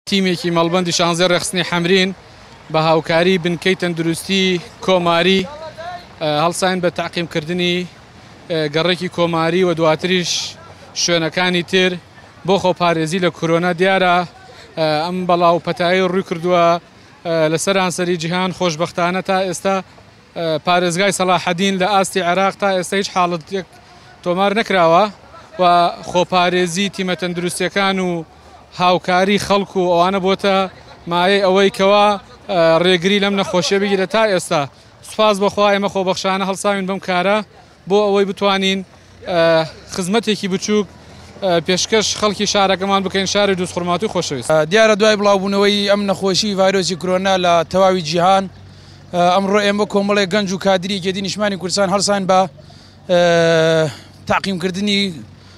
تیمێکی مەڵبەندی شانزێ ڕێکخستنی حەمرین بە هاوکاری بنکەی تەندروستی کۆماری هەڵساین بە تەعقیمکردنی گەڕێکی کۆماری و دواتریش شوێنەکانی تر بۆ خۆپارێزی لە کۆرۆنا دیارە ئەم بەڵا و پەتایی ڕووی کردووە لە سەرانسەری جیهان خۆشببختانە تا ئێستا پارێزگای سەلاحەدین لە ئاستی عێراق تا ئێستا هیچ حاڵەتێک تۆمار نەکراوە و خۆپارێزی تیمە تەندروستەکان و هاوکاری خەڵک و ئەوانە بۆتە مایەی ئەوەی کەوا ڕێگری لەم نەخۆشیە بگیرە تا ئێستا سوپاس بەخوا ئێمە خۆبەخشانە هەڵساوین بەم کارە بۆ ئەوەی بتوانین خزمەتێکی بچووک پێشکەش خەڵکی شارەکەمان بکەین شاری دوست خورماتوی خۆشەویست دیارە دوای بڵاوبوونەوەی ئەم نەخۆشی ڤایرۆسی کرۆنا لە تەواوی جیهان ئەمڕۆ ئێمە کۆمەڵی گەنج و کادری گەدی نیشمانی کوردستان هەڵسان بە تاقیمکردنی